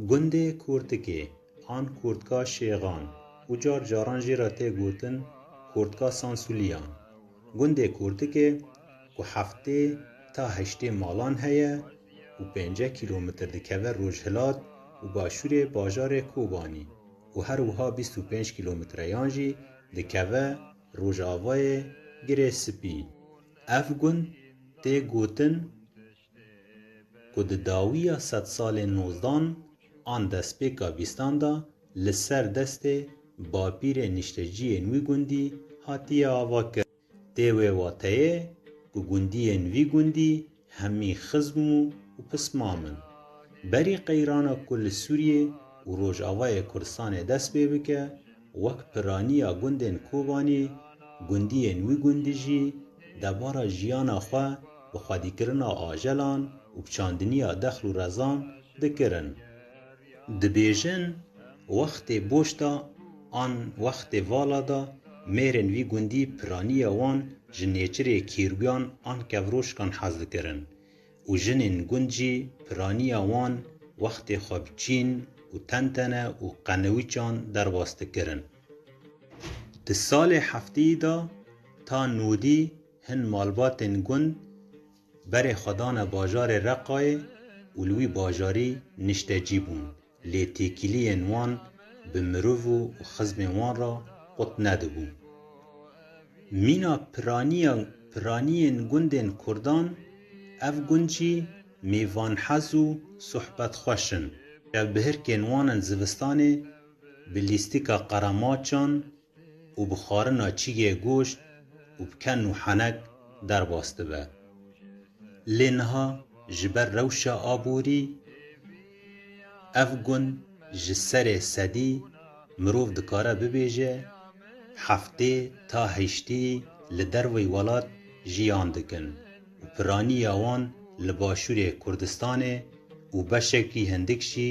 Gundê Kurtikê an Kurtka Şêxan û car caran jî re tê gotin Kurtka Sansulîyan. Gundê Kurtikê ku heftê ta heştê malan heye û pênce kîlometr dikeve rojhilat û başûrê bajarê Kobanî û her wiha bîst û pênc kîlometreyan jî dikeve rojavayê Girê Sipî. Ev gund tê gotin, ku di dawiya sedsalên nozdan an destpêka vîstan de li ser destê bapîrê nişteciyên wî gundî hatiye avakirin. Tê wê wateyê ku gundiyên vî gundî hemî xizm û pismam in. Berî qeyrana ku li Sûriyê û Rojavayê Kurdistanê dest pê bike, Wek piraniya gundên Kobanî, gundiyên wî gundî jî debara jiyana xwe bi xwedîkirina ajelan û bi çandiniya dexl û rezan dikirin. Dibêjin wextê boş de an wextê vala de mêrên vî gundî piraniya wan ji nêçirê kîrguyan an kevroşkan hez dikirin. û jinên gund jî piraniya wan wextê xwe bi çîn û tentene û qenewîçan derbas dikirin. Di salê hefteyî de ta nûdî hin malbatên gund berê xwe dane bajarê Reqayê û li wî bajarî niştecî bûn. Lê têkiliyên wan bi mirov û xizmên wan re qut nedibû. Mîna piraniya piraniyên gundên kurdan, ev gund jî mêvanhez û sohbetxweş in. Çavbihirkên wan in zivistanê bi lîstika qeremaçan, û bi xwarina çîgê goşt û bi ken û henek derbas dibe. Lê niha ji ber rewşa aborî ev gund ji serê sedî mirov dikare bibêje heftê ta heştî li derveyî welat jiyan dikin û piraniya wan li başûrê Kurdistanê û beşekî hindik jî